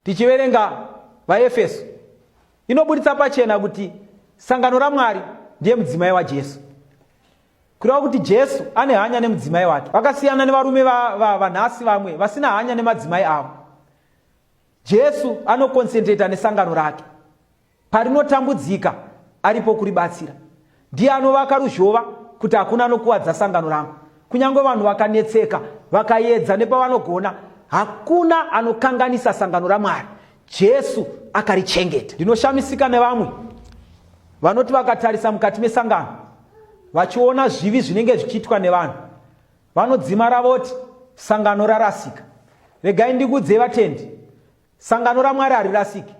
Tichiverenga vaEfeso inobuditsa pachena kuti sangano raMwari ndiye mudzimai waJesu. Kureva kuti Jesu ane hanya nemudzimai wake. Vakasiyana nevarume vanhasi va, va, vamwe vasina hanya nemadzimai avo. Jesu anokonsentreta nesangano rake. parinotambudzika aripo kuribatsira. Ndiye anovaka ruzhova kuti hakuna anokuvadza sangano rangu. Kunyange vanhu vakanetseka, vakaedza nepavanogona, hakuna anokanganisa sangano raMwari. Jesu akarichengeta. Ndinoshamisika nevamwe vanoti vakatarisa mukati mesangano vachiona zvivi zvinenge zvichiitwa nevanhu vanodzimara voti sangano rarasika. Regai ndikuudzei vatendi, sangano raMwari harirasiki.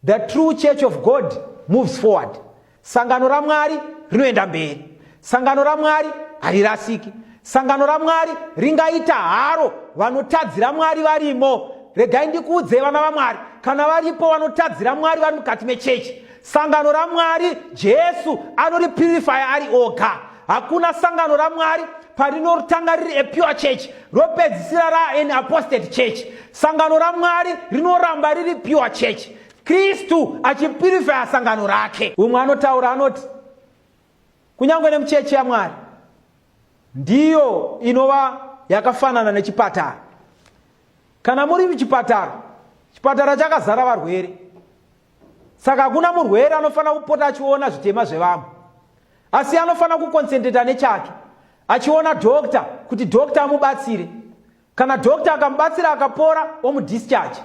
The true church of God moves forward. Sangano raMwari rinoenda mberi. Sangano raMwari harirasiki. Sangano raMwari ringaita haro vanotadzira Mwari varimo. Regai ndikuudze vana vaMwari, kana varipo vanotadzira Mwari vari mukati mechechi. Sangano raMwari Jesu anoripurifaya ari oga. Hakuna sangano raMwari parinotanga riri a pure church ropedzisira ra an apostate church. Sangano raMwari rinoramba riri pure church. Kristu achipurifaya sangano rake. Umwe anotaura anoti kunyange nemuchechi yaMwari ndiyo inova yakafanana nechipatara. Kana muri muchipatara, chipatara chakazara varwere. saka hakuna murwere anofanira kupota achiona zvitema zvevamwe asi anofanira kukonsentreta nechake achiona dhokta kuti dhokta amubatsire kana dhokta akamubatsira akapora omudischarge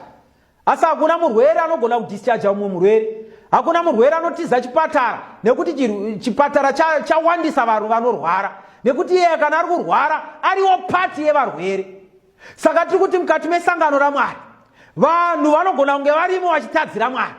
asi hakuna murwere anogona kudischarge umwe murwere hakuna murwere anotiza chipatara nekuti chipatara chawandisa vanhu vanorwara nekuti iyeye kana ari kurwara ariwo pati yevarwere saka tiri kuti mukati mesangano ramwari vanhu vanogona kunge varimo vachitadzira mwari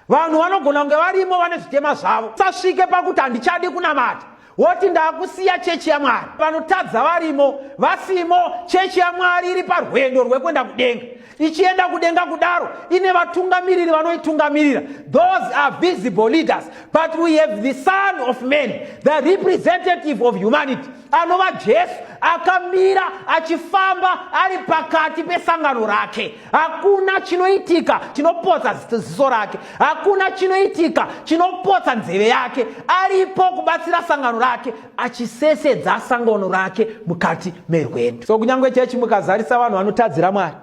vanhu vanogona kunge varimo vane zvitema zvavo sasvike pakuti handichadi kunamata woti ndakusiya chechi yamwari vanotadza varimo vasimo chechi yamwari iri parwendo rwekuenda kudenga ichienda kudenga kudaro ine vatungamiriri vanoitungamirira those are visible leaders but we have the son of man the representative of humanity anova jesu akamira achifamba ari pakati pesangano rake hakuna chinoitika chinopotsa ziso rake hakuna chinoitika chinopotsa nzeve yake aripo kubatsira sangano rake achisesedza sangano rake mukati merwendo so kunyange chechi mukazarisa vanhu vanotadzira mwari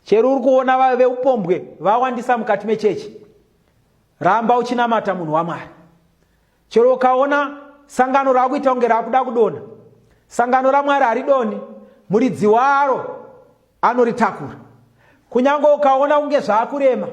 chero uri kuona vave veupombwe vawandisa mukati mechechi ramba uchinamata munhu wamwari Chero ukaona sangano raakuita kunge raakuda kudona, sangano raMwari haridoni, muridzi waro anoritakura. Kunyange ukaona kunge zvaakurema,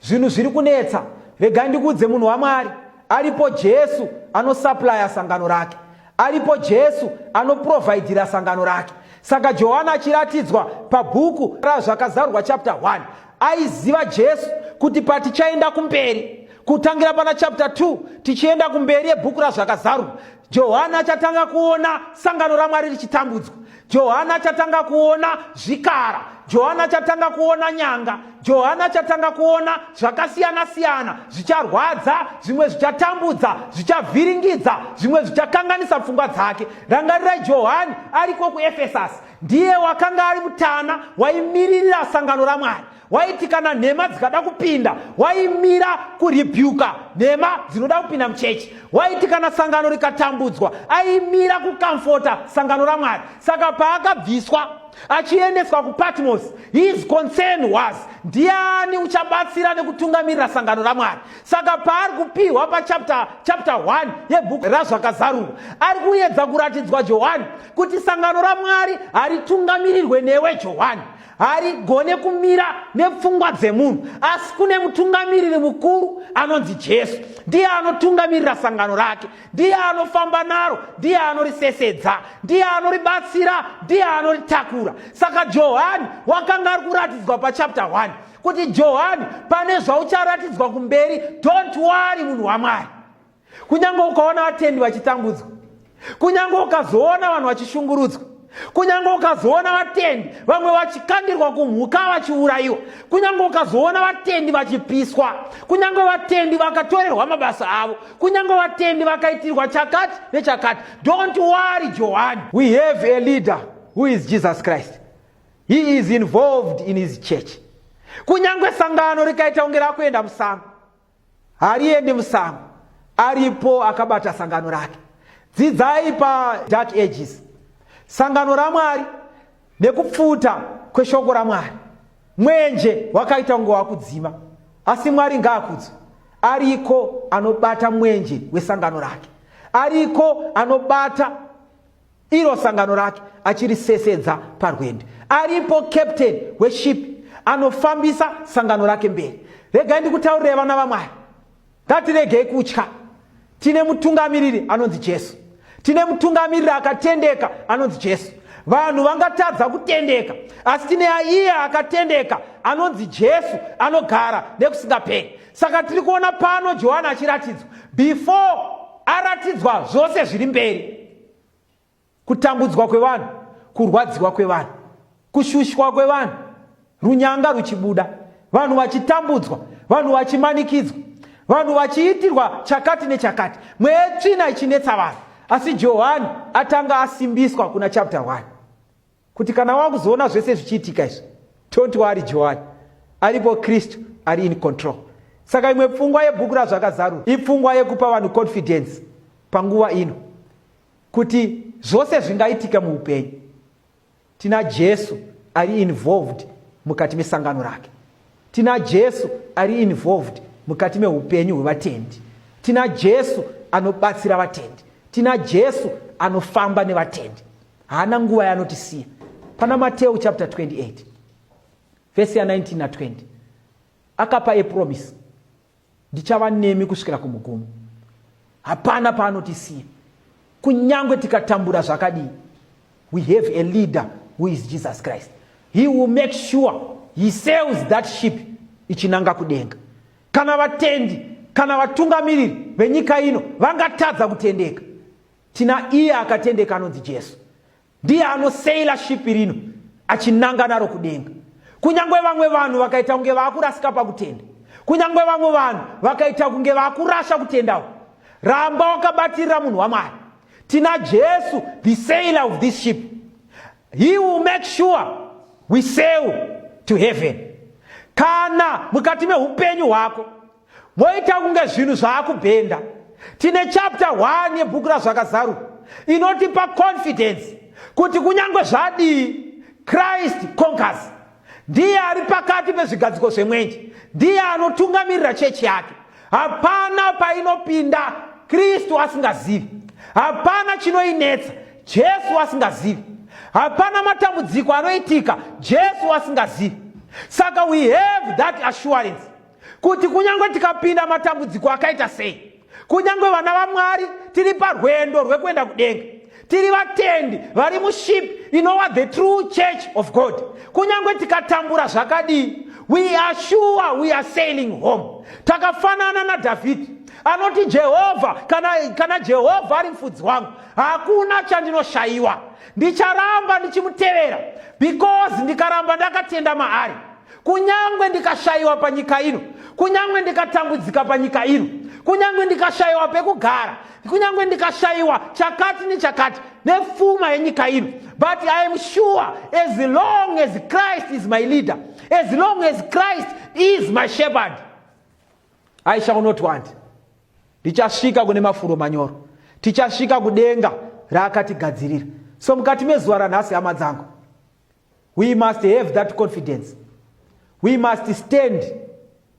zvinhu zviri kunetsa, rega ndikuudze munhu waMwari, aripo Jesu anosaplaya sangano rake, aripo Jesu anoprovhaidhira sangano rake. Saka Johani achiratidzwa pabhuku raZvakazarurwa chapter 1 aiziva jesu kuti patichaenda kumberi kutangira pana chapter 2 tichienda kumberi yebhuku razvakazarwa johani achatanga kuona sangano ramwari richitambudzwa johani achatanga kuona zvikara johani achatanga kuona nyanga johani achatanga kuona zvakasiyana siyana zvicharwadza zvimwe zvichatambudza zvichavhiringidza zvimwe zvichakanganisa pfungwa dzake rangarirai johani ariko kuefesasi ndiye wakanga ari mutana waimiririra sangano ramwari waiti kana nhema dzikada kupinda waimira kuribyuka nhema dzinoda kupinda muchechi waiti kana sangano rikatambudzwa aimira kukamfota sangano ramwari saka paakabviswa achiendeswa kupatmos his concern was ndiani uchabatsira nekutungamirira sangano ramwari saka paari kupiwa pachapter 1 yebhuku razvakazarurwa ari kuedza kuratidzwa johani kuti sangano ramwari haritungamirirwe newe johani harigone kumira nepfungwa dzemunhu asi kune mutungamiriri mukuru anonzi jesu ndiye anotungamirira sangano rake ndiye anofamba naro ndiye anorisesedza ndiye anoribatsira ndiye anoritakura saka johani wakanga ari kuratidzwa pachapta 1 kuti johani pane zvaucharatidzwa kumberi don't wari munhu wamwari kunyange ukaona vatendi vachitambudzwa kunyange ukazoona vanhu vachishungurudzwa kunyange ukazoona vatendi vamwe vachikandirwa kumhuka vachiurayiwa kunyange ukazoona vatendi vachipiswa kunyange vatendi vakatorerwa mabasa avo kunyange vatendi vakaitirwa chakati nechakati don't worry johani we have a leader who is jesus christ he is involved in his church kunyange sangano rikaita kunge rakuenda musango Hariendi musango aripo akabata sangano rake. Dzidzai pa Dark Ages. Sangano raMwari nekupfuta kweshoko raMwari. Mwenje wakaita kunge wakudzima. Asi Mwari ngaakudzwe. Ariko anobata mwenje wesangano rake. Ariko anobata Iro sangano rake achirisesedza parwendo. Aripo captain weship anofambisa sangano rake mberi. Regai ndikutaurire vana vaMwari. Ngatiregei kutya. Tine mutungamiriri anonzi Jesu. Tine mutungamiriri akatendeka anonzi Jesu. Vanhu vangatadza kutendeka, asi tine aiye akatendeka anonzi Jesu anogara nekusingaperi. saka tiri kuona pano johani achiratidzwa before aratidzwa zvose zviri mberi kutambudzwa kwevanhu kurwadziwa kwevanhu kushushwa kwevanhu runyanga ruchibuda vanhu vachitambudzwa vanhu vachimanikidzwa vanhu vachiitirwa chakati nechakati mwetsvina ichinetsa vanhu asi johani atanga asimbiswa kuna chapter 1 kuti kana wakuzoona zvese zvichiitika izvi toti waari johani aripo kristu ari in control saka imwe pfungwa yebhuku razvakazarura ipfungwa yekupa vanhu confidence panguva ino kuti zvose zvingaitika muupenyu tina jesu ari involved mukati mesangano rake tina jesu ari involved mukati meupenyu hwevatendi tina jesu anobatsira vatendi tina jesu anofamba nevatendi haana nguva yaanotisiya pana mateu chapter 28 vhesi ya19 na20 akapa epromisi ndichava nemi kusvikira kumugumo hapana paanotisiya kunyange tikatambura zvakadii we have a leader who is jesus christ he will make sure he sails that ship ichinanga kudenga kana vatendi kana vatungamiriri venyika ino vangatadza kutendeka Tina iye akatendeka anonzi Jesu. Ndiye anoseila shipi rino achinanga naro kudenga. Kunyange vamwe vanhu vakaita kunge vakurasika pakutenda. Kunyange vamwe vanhu vakaita kunge vakurasha kutendawo. Ramba wakabatirira munhu waMwari. Tina Jesu, the sailor of this ship. He will make sure we sail to heaven. Kana mukati mehupenyu hwako Moita kunge zvinhu zvaakubhenda. Tine chapter 1 yebhuku razvakazaru inotipa confidence kuti kunyange zvadii Christ conquers. Ndiye ari pakati pezvigadziko zvemwenje. Ndiye anotungamirira chechi yake. Hapana painopinda Kristu asingazivi. Hapana chinoinetsa Jesu asingazivi. Hapana matambudziko anoitika Jesu asingazivi. Saka we have that assurance kuti kunyange tikapinda matambudziko akaita sei kunyange vana vamwari tiri parwendo rwekuenda kudenga tiri vatendi vari muship inowa the true church of god kunyange tikatambura zvakadii we are sure we are sailing home takafanana nadhavhidhi anoti jehovha kana, kana jehovha ari mfudzi wangu hakuna chandinoshayiwa ndicharamba ndichimutevera because ndikaramba ndakatenda maari kunyangwe ndikashayiwa panyika ino kunyangwe ndikatambudzika panyika ino kunyangwe ndikashayiwa pekugara kunyangwe ndikashayiwa chakati nechakati nepfuma yenyika ino but i am sure as long as christ is my leader as long as christ is my shepherd i shall not want ndichasvika kune mafuro manyoro tichasvika kudenga raakatigadzirira so mukati mezuva ranhasi hama dzangu we must have that confidence we must stand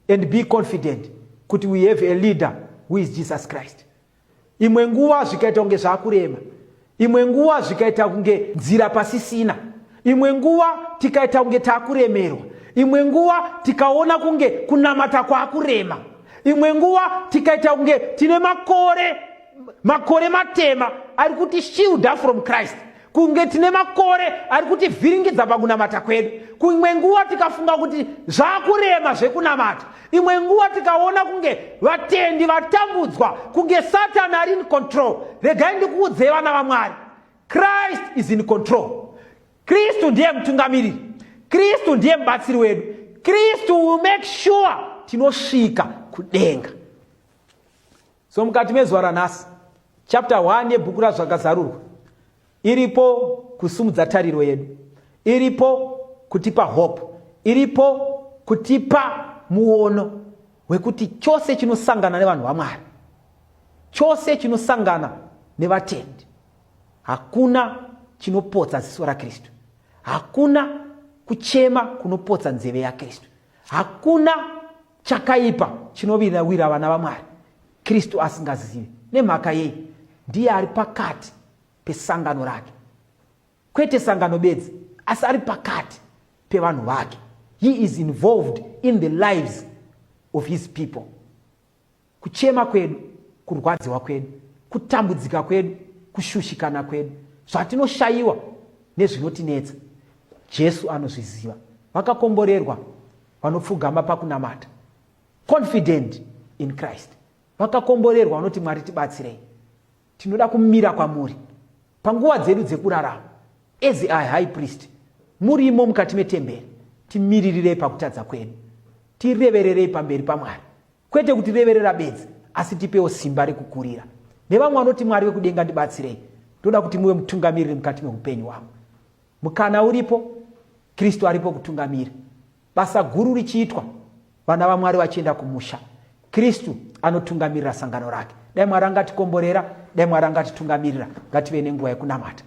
and be confident kuti we have a leader who is jesus christ imwe nguva zvikaita kunge zvakurema imwe nguva zvikaita kunge nzira pasisina imwe nguva tikaita kunge takuremerwa imwe nguva tikaona kunge kunamata kwakurema imwe nguva tikaita kunge tine makore makore matema ari kuti shielda from christ kunge tine makore ari kutivhiringidza pakunamata kwedu kuimwe nguva tikafunga kuti zvakurema zvekunamata imwe nguva tikaona kunge vatendi vatambudzwa kunge satani ari in control regai ndikuudzei vana vamwari christ is in control kristu ndiye mutungamiriri kristu ndiye mubatsiri wedu kristu will make sure tinosvika kudenga So mukati mezuva ranhasi, chapter 1 yebhuku raZvakazarurwa iripo kusumudza tariro yedu, iripo kutipa hope, iripo kutipa muono wekuti chose chinosangana nevanhu vaMwari, chose chinosangana nevatendi, hakuna chinopotsa ziso raKristu, hakuna kuchema kunopotsa nzeve yaKristu, hakuna Chakaipa chinovirira wira vana vaMwari Kristu asingazivi. Nemhaka yei? Ndiye ari pakati pesangano rake, kwete sangano bedzi, asi ari pakati pevanhu vake. He is involved in the lives of his people. Kuchema kwedu, kurwadziwa kwedu, kutambudzika kwedu, kushushikana kwedu, zvatinoshayiwa nezvinotinetsa, Jesu anozviziva. Vakakomborerwa vanopfugama pakunamata, confident in Christ. Vakakomborerwa vanoti, Mwari tibatsirei. Tinoda kumira kwamuri panguva dzedu dzekurarama as a high priest murimo mukati metemberi timiririrei pakutadza kwedu tirevererei pamberi pamwari Kwete kutireverera bedzi, asi tipewo simba rekukurira. Nevamwe vanoti, Mwari vekudenga ndibatsirei, ndoda kuti muve mutungamiriri mukati meupenyu wangu. Mukana uripo, Kristu aripo kutungamira. Basa guru richiitwa, vana vaMwari vachienda kumusha, Kristu anotungamirira sangano rake. Dai Mwari angatikomborera, dai Mwari angatitungamirira, ngative nenguva yekunamata.